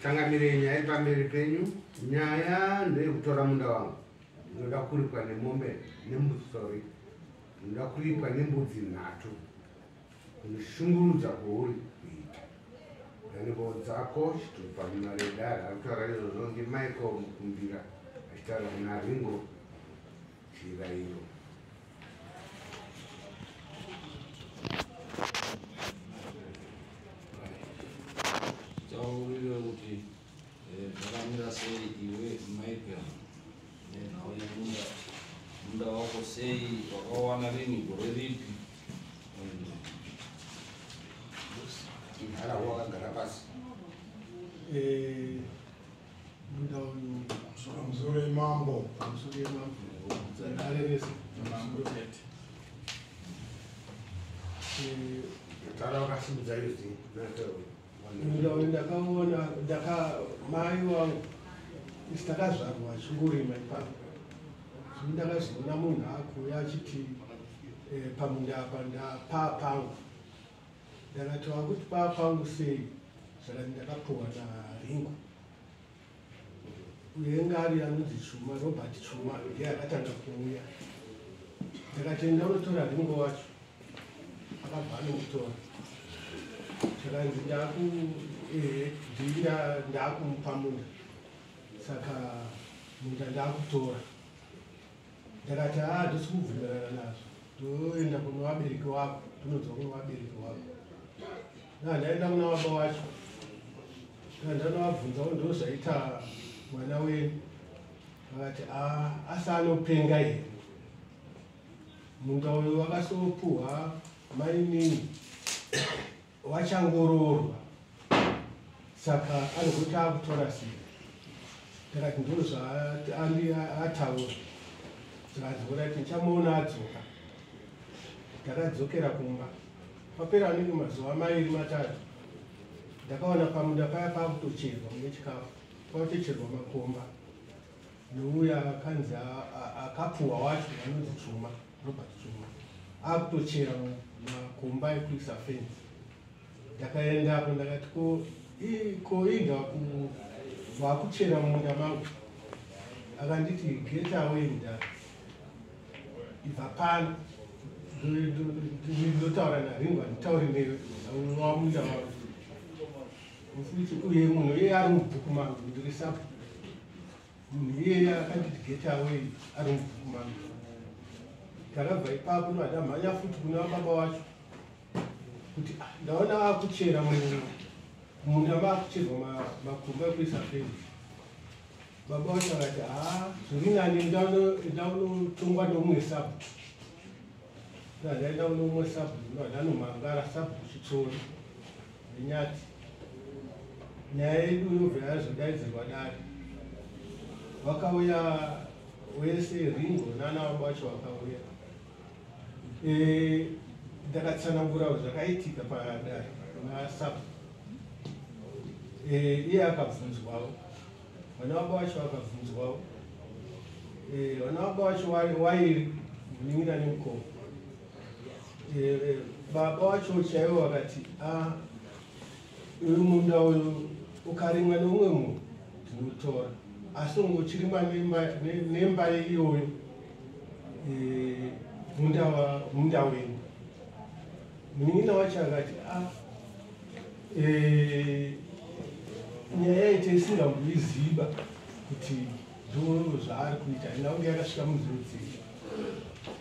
tangamirei nyaya iri pamberi penyu nyaya ndeyekutora munda wangu ndinoda kuripwa nemombe nembusori ndinoda kuripwa nembudzi nhatu kushungurudza kwauri kuita nhengo dzako chitupa munaredara akutaura izvozvo ndimichael mukumbira achitaura kuna ringo chirayiro Eh, zvakamira sei iwe michael nenhau yemunda munda wako sei wakawana rini gore ripi inharawo wakagara pasi eh, munda uyu pamusoro yemambo pamusoro yemambo arevesa mambo tete eh, tara wakasimudza izvi ndakaona ndaka mai wangu isi takazvarwa achingorima ipapo zvino ndakazoona munhu akuuya achiti eh, pamunda apa ndapaa pangu ndakati wakuti paa pangu sei zvakati ndakapuwa naringo Uyengari anonzi Chuma, Robert Chuma ndiye akatanga kuuya. Ndakatenda unotora ringo wacho, akabva anomutora. Chikanzi ndaku ehe ndinda ndakumupa munda saka munda ndakutora. ndakati haa hatisi kubvumirana nazvo toenda kune vabereki wako tinodzwa kune vabereki wako na ndaenda kuna baba wacho na ndanovabvunzawo ndo zvaita mwana wenyu vakati haa asi anopenga here munda uyo vakasopuhwa mainini vachangoroorwa saka anogoti akutora sei ndakati ndoo zvaataura zvaadzora ti ndichamuona adzoka ndakadzokera kumba papera anenge mazuva mairi matatu ndakaona pamuda paya pakutocherwa mune chikafu kwakutocherwa makomba nouya akanzi akapuhwa wacho anonzi chuma robert chuma akutochera makomba ekuisa fence ndakaenda apo ndakati ko ko inda vakuchera mumunda mangu akanditi get away nda ibva pano ndotaura naringo handitauri newe wamunda wangu Futi uye munhu iye ari mubhuku mangu ndiri sapo munhu iyeye akanditi get away ari mubhuku mangu takabva ipapo ndovadamhanya futi kune vababa wacho kuti ah, ndaona akuchera munda maakucherwa makumba ekuisa feni baba wacho akati ha ah, zviri nani ndaunotongwa neumwe sapo ndaenda uneumwe sapo ndovadanomangara sapo chitsori Nyati. Nyaya yedu yobva yazodaidzirwa dare. Vakauya wese Ringo nana wabo wacho vakauya. Eh ndakatsanangura zvakaitika padare na sub. Eh iye akabvunzwawo. Vana wabo wacho vakabvunzwawo. Eh vana wabo wacho wairi munin'ina nemukoma. Eh, baba wacho chaivo vakati ah, uyu munda uyu ukarimwa neumwe munhu tinotora asi ungochirimwa nemba iyoyo eh, munda wenyu munin'ina wacho akati ah, eh, nyaya yaite isingamboiziva kuti ndoo zvaari kuita inange yakasvika munzvimbo dzii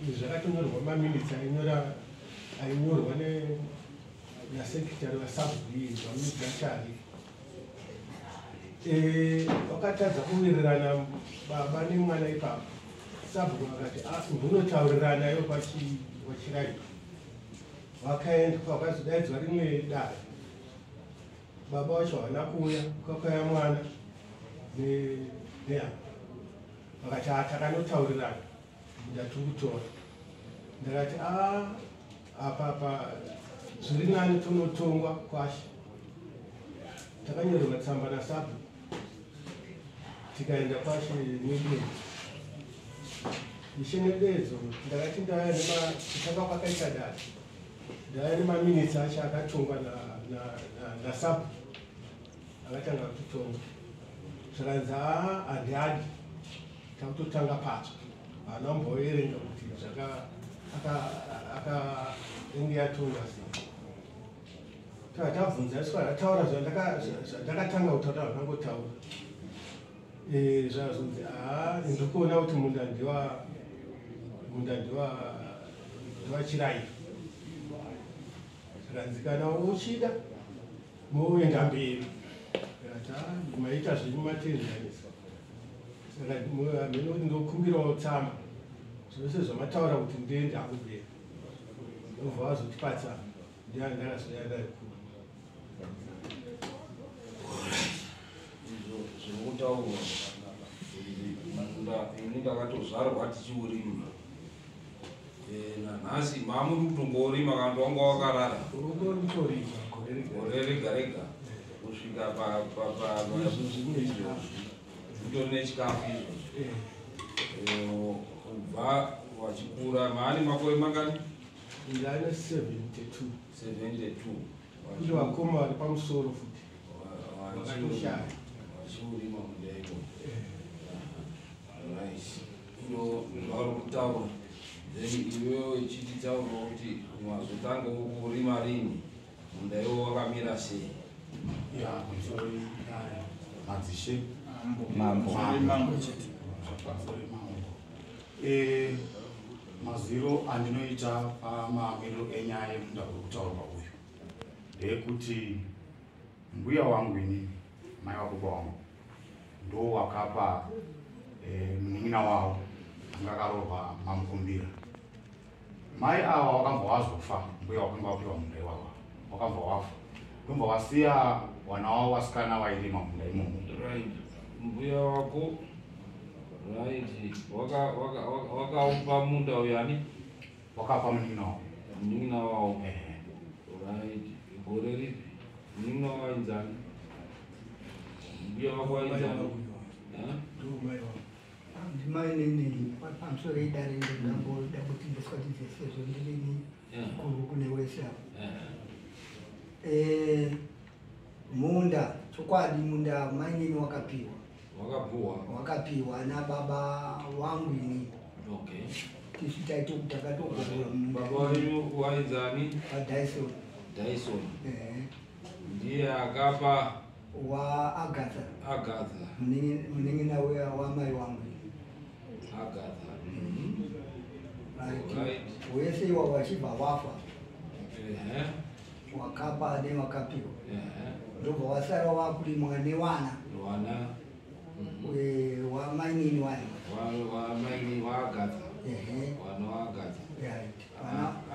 Izvi zvakatonyorwa maminitsi ainyora ainyorwa nasekretary vasabhuyi vamudzachari eh, vakatadza kuwirirana baba nemwana ipapo sabhuku vakati ah, ndunotaurirana yo pachiraiva vakaendwa vakazodaidzwa rimwe dare baba wacho havana kuuya kwakaya mwana nehama vakati haa takanotaurirana ndatukutora ndakati a apapa zviri nani tonotongwa kwashe takanyorerwa tsamba nasabu tikaenda kwashe nebezo ishe nebezo ndakati ndaya nematanga kwakaita dai ndaya nemaminitsi acho akatongwa nasabu na, na, na akatanga kutitonga zvikanzi haa handihadi takutotanga patsva haana kumboverenga kuti zvaka akaenge yatonga sei taa tabvunza isu ataura zvandakatanga kutaura zvandangotaura eh, zvazonzi haa ndikuona kuti munda ndiwa munda ndiwa ndiwachirairo zvikanzikana uchida Moenda mberi. Maita zvenyu matenzanisa. Saka hameno kuti ndokumbirawo tsamba. Zvose zvamataura kuti ndiende akubera. Ndobva vazotipatsa ndiani ndakazoyanda kuri. Zvinotaurwa. Ini ndakatozvarwa tichiurima. Eh, nanhasi mamuri kutongorima kana kuti wanga wakarara gore rega rega kusvika pakutori nechikafu izvozvi eh. eh, kubva wachikura maani makore mangani ndane 72 72 kuti vakoma vari pamusoro futi vachishaya vachiurima mudaiko nice ndo zvauri kutaura then iwewo ichiti taurawo kuti mazotanga kurima rini munda iwo wakamira sei madzishe mambo eh, mazwiro andinoita pamamiriro enyaya yemunda kuri kutaurwa uyu ndeyekuti mbuya wangu inini mai vakuba wangu ndo wakapa eh, munin'ina wavo anga akaroorwa mamukumbira mai ava wakambva wazofa mbuya wakanga wapiwa munda iwava wakambva wafa ndombva wasiya wana wavo wasikana vairima munda imomo right mbuya wako right wakaupa munda uyani Wakafa munin'ina wako? Munin'ina wavo. Ehe. Right. Gore ripi? Munin'ina wavo ainzani? Mbuya vako ainzani? Eh? Ndimai nini pamusoro idare ndangoda kuti ndiswatidze sezvo ndirini Eh. kuru kune wese apo. Eh. Eh, munda chokwadi munda mainini wakapiwa wakapuwa wakapiwa nababa wangu ini okay tisu taito takatogorora baba wenyu wainzani vadyson dyson eh. ndiye akapa waagatha agatha munin'ina uya wamai wangu agatha mm-hmm. wese iwavo achibva wafa wakapa ane wakapiwa ndobva wasara wakurimwa newana mhm. wamainini wani wamainini waagadza wana waagadza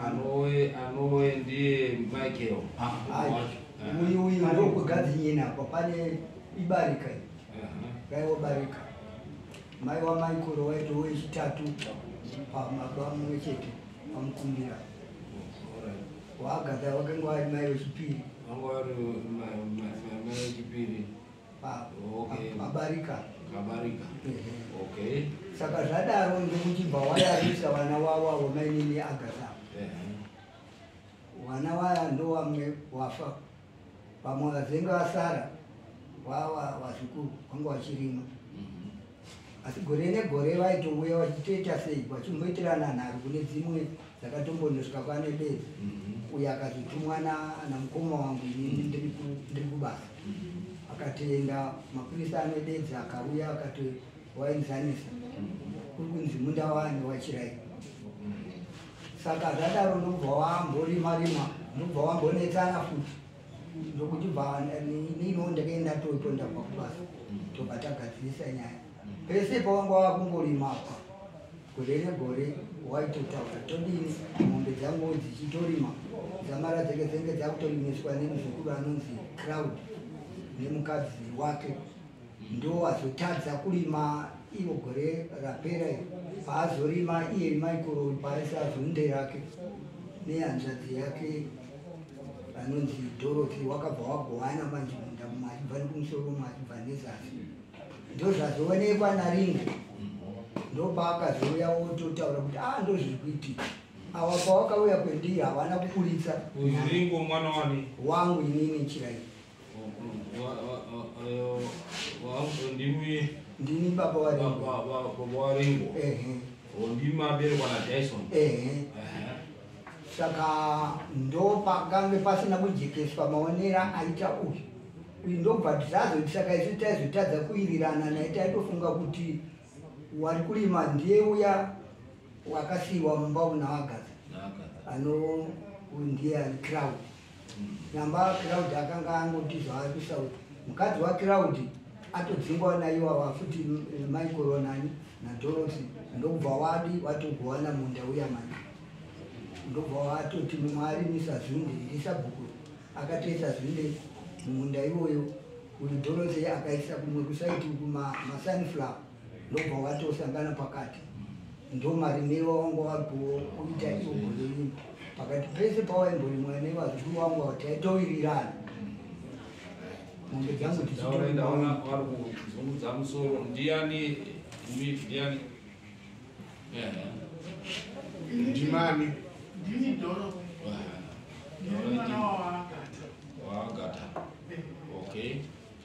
anowe anowe ndiye michael ah, ah. uyu uyu ndokugadza nyini apa pane ibarika raiwobarika mai wamaikoro waito wechitatu pamabamwe chete pamukumbira Wagatha wakanga wari mai wechipiri. Wanga wari mai wechipiri. Pabarika. Pabarika. Okay. Saka zvadaro ndokuti bawayarisa vana wavo avo mainini Agatha. Vana waya ndowamwe wafa. Vamwe vazenga vasara vava vazukuru vanga vachirima mhm. asi gore negore vaitouya vachitoita sei vachimboitirana nharo kune dzimwe dzakatombonosvika kwane bedzi mhm. uyo akazotumwa namukoma wangu inini ndiri kubasa akatoenda mapurisa ane bedzi akauya akatowainzanisa kuri kunzi munda wani wachirai saka zvadaro ndobva wamborima rima ndobva wambonetsana futi ndokuti bva nino ndakaenda toto ndabva kubasa tobva tagadzirisa nyaya pese pawanga wakungorima apa gore negore waitotaura todini mombe dzangu dzichitorima dzamara dzenge dzenge dzakutorimiswa nemuzukuru anonzi crowd nemukadzi wake ndowazotadza kurima ivo gore rapera iro paazorima iye michael paaisa zunde rake nehanzvadzi yake vanonzi dorothy wakabva wagovana manje munda mumwe achibva nekumusoro mumwe achibva nezasi ndozvazoonekwa naringo ndopaakazouya wototaura kuti a ah, ndozviri kuitika awa pawakauya kwendiri havana kuburitsa wangu inini nchira iyi ndini baba waringo ndimaberekwa nadyson saka ndopakange pasina kujekeswa maonera aita uyu uyu ndobva tisazoiti saka isu taizotadza kuirirana naye taitofunga kuti wari kurima ndiye uya wakasiyiwa mumba unawagaza ano uyu ndiye ani crowd namba kiraudi akanga angoti zvaari kusauti mukadzi wakiraudi atodzingwa naiwawa futi eh, mai koronani nadorosi ndokubva wadi watogowana munda uya mani ndobva watoti mumwe arimisa zvinde ndisabhuku akatoisa zvinde mumunda iwoyo uyu dorosi akaisa kumwe kusaiti kumasunflower ma ndobva watosangana pakati ndomarimiro wangu wakuita iogoleyini pakati pese pawaimborimwa nevazukuru wangu ava taitowirirana mombe dzangu dzichitoaakuzungudza musoro ndiani ndiani ndimani ndini doro ndini mwana waagata waagata okay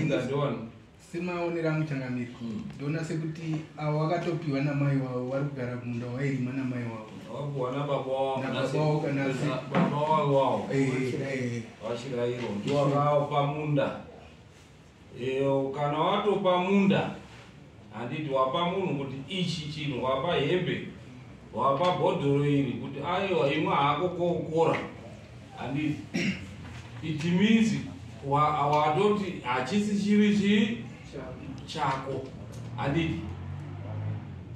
ingadona semaonero angu changamiri hmm. ndona sekuti avo vakatopiwa namai wavo vari kugara kumunda wairima namai wavo vachirairo ndiwakao pamunda kana watopa munda Handiti wapa munhu kuti ichi chinhu wapa hembe wapa bhodhoro iri kuti aiwa imwe hako koukora handiti it means watoti hachisi chiri chii chako handiti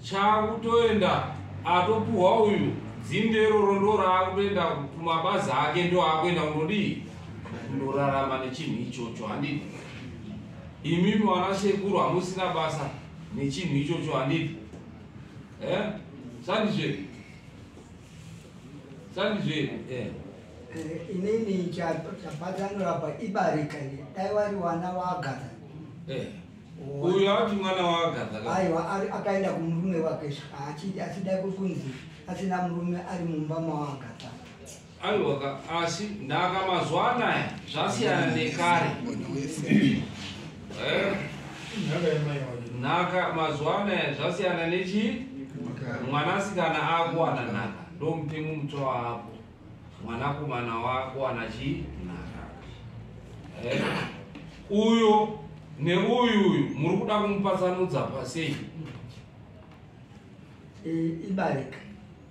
chakutoenda atopuhwa uyu dzinde iroro ndo raakutoenda kumabazi ake ndo akuenda kunodii kundorarama nechinhu ichocho handiti Imimi wana sekuru hamusina basa nechinhu ichocho handiti eh? sandizve sandizve eh. Eh, inini chapatanurapa ibarika ine dai wari wana waagatha eh. uyo ati mwana waagatha aiwa akaenda kumurume wake achida kunzi asina murume ari mumba mawaagatha aiwaka asi ndaka mazuva anaya zvasiyana nekare eh? nhaka mazuva anaya zvasiyana nechii mwanasikana akuwana nhaka ndomutemo mutswa wako mwanakomana wako ana chii nhaka eh? uyo neuyu uyu muri kuda kumupatsanudza pasei eh, ibarika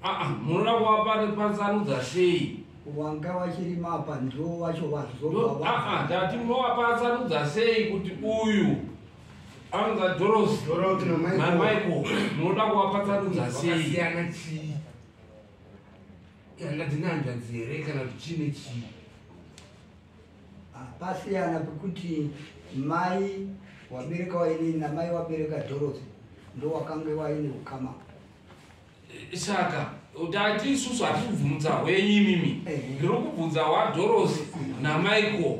Aa munoda kuvapari patsanudza sei? Wanga vachiri mapa ndiwo wacho vazoba. Aa ndati munovapa tsanudza sei kuti uyu anonza Dorosi na Michael munoda kuvapa tsanudza sei? Vakasiyana chii? Yanga dzine hanzvadzi here kana kuti chii nechii? Pasiyana pekuti mai wabereka wainini namai wabereka Dorosi ndowakange waine ukama. saka tati isusu hatisi kubvunza hwenyu imimi ndiri kubvunza hwadhorosi namichael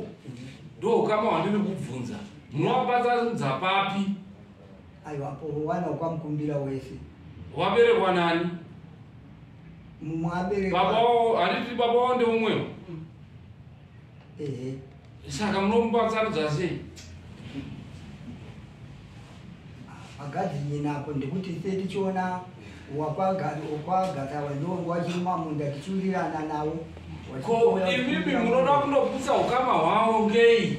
ndokama wandiri kubvunza munovabatanidza papi aiwapo wana ukwamukumbira wese waberekwa nani mumwe aberekwa baba wao handiti baba wao ndeumwewo ehe saka munomubatsarudza sei agadhinyina apo ndikuti se tichiona wakwagata wandonga wachiri mamunda tichiwirirana nawo ko imimi munoda kundoputsa ukama hwavo ngei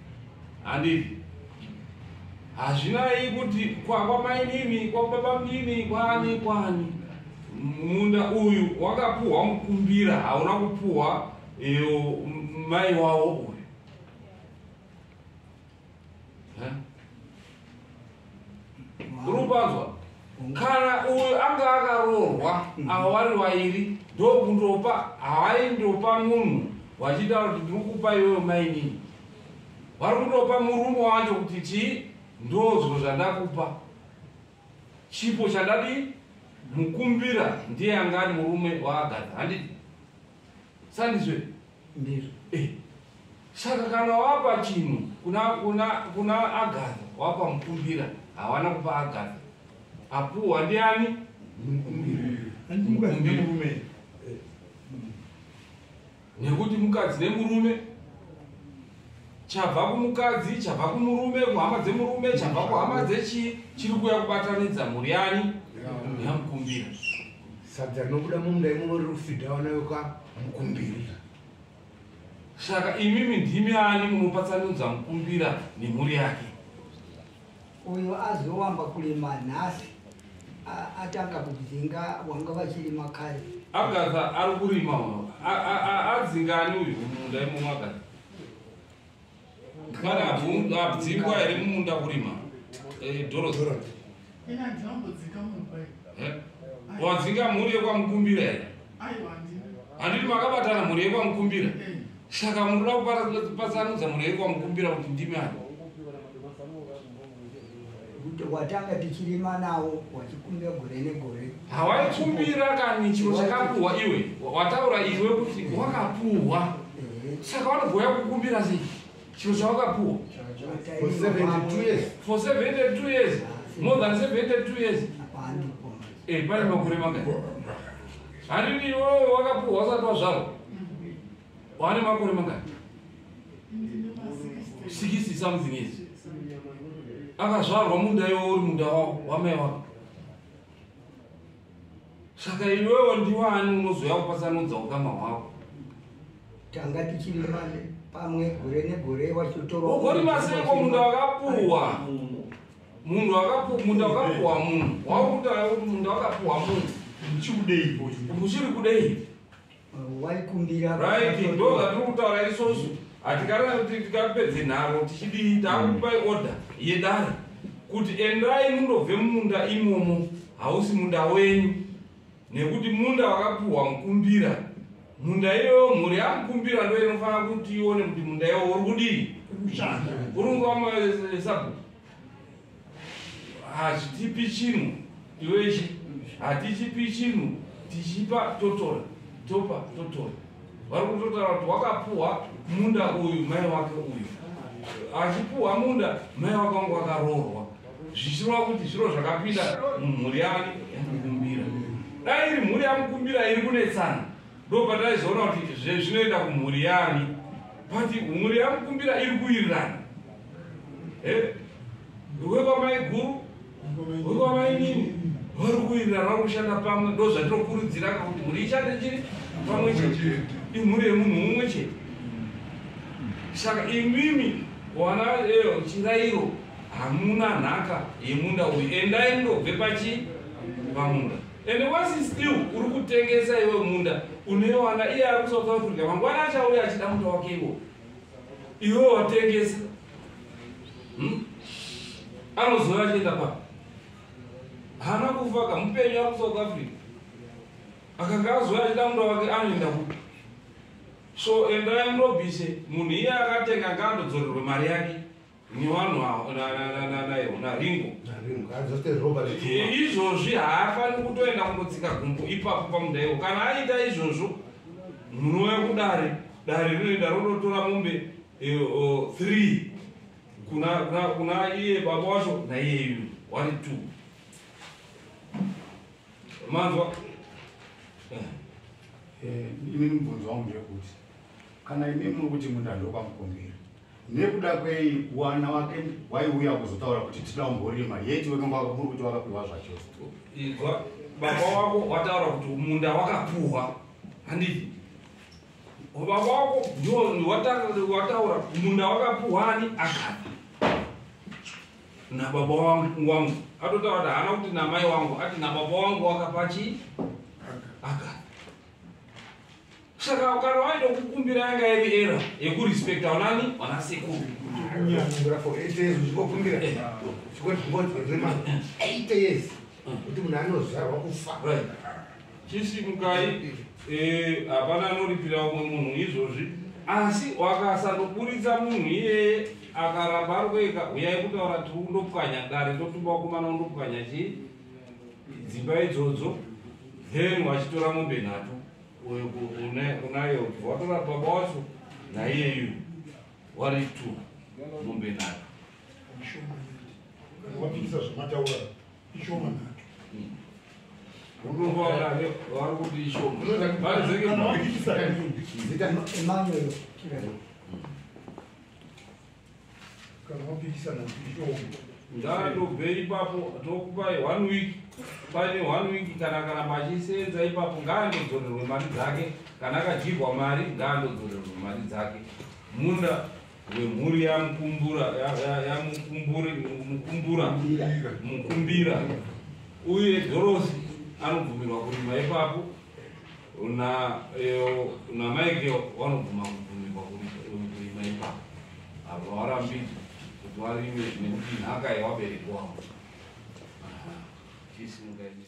handiti hazvinai kuti kwakwamainini kwakubabamnini kwani kwani munda uyu wakapuhwa mukumbira hauna kupuhwa iyo mai wavo uyu urupanzwa kana uyu anga akaroorwa mm. ava vari vairi ndokundopa havaindopa munhu vachitaura kuti ndiri kupa iyoyo mainini vari kundopa murume wacho kuti chii ndozvo zvandakupa chipo chandadii mukumbira ndiye angani murume waagadha handiti sandizve ndizvo eh. saka kana wapa chinhu kuna kuna kuna agatha wapa mukumbira hawana kupa agatha apuwa ndiani mukumbiramurume nekuti mukadzi nemurume chabva kumukadzi chabva kumurume kuhama dzemurume chabva kuhama dzechii chiri kuya kubatanidza mhuri yani yamukumbira sadza rinobuda mumunda imomo riri kufidha vana yoka mukumbiri saka imimi ndimi ani munopatsanudza mukumbira nemhuri yake uyo azowamba kurima nhasi atanga kudzinga wanga vachirima kare agatha ari kurima uno adzingani uyu mumunda imomo agatha kana abdzingwa here mumunda kurima eh, doros wadzinga mhuri yekwamukumbira here handiti makabatana mhuri yekwamukumbira eh. saka munoda kupatsanudza mhuri yekwamukumbira kuti ndimi ani watanga tichirima nawo wachikumbira gore negore hawaikumbira kani chiro chakapuhwa iwe wataura iwe kuti wakapuhwa eh. saka wanogoya kukumbira sei chiro chawakapuhwa for 72 years more than 72 years Eh, pane makore mangani hanini iwewe wakapuhwa usati wazvarwa wane makore mangani sikisi something is akazvarwa munda iwe uri munda wako wamai wako saka iwewe ndiwani unozoya kupatsanudza ukama hwako tanga tichiri mane pamwe gore negore wachotorwa ugorimasiiko munda wakapuhwa munhu wakapu- munda wakapuhwa munhu waukutaura kuti munda wakapuhwa munhu Chikudeipo ichi. uchiri kudei Uh, waikumbira right ndo zvatiri kutaura isosu hatikana kuti tikapedze nharo tichidii takupai order yedare kuti endai mundobve mumunda imomo hausi munda wenyu nekuti munda wakapiwa mukumbira munda iyoyo mhuri yamukumbira ndo inofanira kuti ione kuti munda iyoyo uri kudii uri kuvamasabhuku hazvitipi chinhu iwechi hatichipi chinhu tichipa totora topa totora vari kutotaura kuti wakapuhwa munda uyu mai wake uyu achipuhwa munda mai wake wangu wakaroorwa zvichirova kuti zviro zvakapinda mumhuri yake yamukumbira dai iri mhuri yamukumbira iri kunetsana ndopataizoona kuti zvezvinoenda kumhuri yani but mhuri yamukumbira iri kuwirirana eh? wekwamaiguru wekwamainini vari kuwirirana vari kushanda pamwe ndo zvatinokurudzira kakuti mhuri ishande chiri pamwe chete imhuri yemunhu mumwe chete saka imimi wana eh, chirairo hamuna nhaka yemunda uyu endai mundobve pachi pamunda ende wasi still uri kutengesa iwe munda unoiwana iye ari kusouth africa mangwana achauya achida munda wake iwo iwe watengesa hmm? anozouya achienda pa haana kufa ka mupenyu ari kusouth africa akanga azouya achida munda wake anoenda kupi so endai murobise munhu iye akatenga ngaandodzorerwe mari yake ni vanhu na ringo izvozvi haafaniri kutoenda kunotsika gumbo ipapo pamudaiwo kana aita izvozvo munouya kudare dare rinoenda ronotora mombe eh, three kuna iye baba wacho naiyeyu wari two manzwa eh. eh, ini mubvunzo wangu ndeyekuti kana imi muri kuti munda ndokwamukumbira nekuda kwei wana wake waiuya kuzotaura kuti tida umborima yeti wekumba muri kuti wakapiwa zvacho igwa baba wako wataura kuti munda wakapuhwa handii baba wako ndiwataura munda wakapuhwa ani akana nababa wangu wangu atotaura kuti haana kuti namai wangu ati nababa wangu wakapa chii akana Saka ukara waida kukumbira yanga iri era yekurespecta unani wana sekuru. Kunyangura for 8 years uchikokumbira. Chikwati kumboti rema 8 years. Kuti munhu anozvarwa kufa. Right. Chisi mukai eh hapana anoripira umwe munhu izvozvi. Asi wakasandoburitsa munhu iyeye akaramba ari kueka huyai kutaura tiri kundopwanya dare totumba kumana undopwanya chii dzimba idzodzo then wachitora mombe nhatu uyu unayo watora baba wacho naiyeyu wari two mombe nayo wapikisa zvamataura ishoma nato ngatobvei ipapo tokupai one week paine one week kana akaramba achisenza ipapo ngaandodzorerwe mari dzake kana akadyirwa mari ngaandodzorerwe mari dzake munda wemhuri yamukumbura yamukumbura mukumbira uye dhorosi anobvumirwa kurima ipapo Una eo eh, una maike vanobvuma kubvumikwa kurima ipapo avo varambidzwa kuti varime nekuti nhaka yevabereki wavo chisimukaii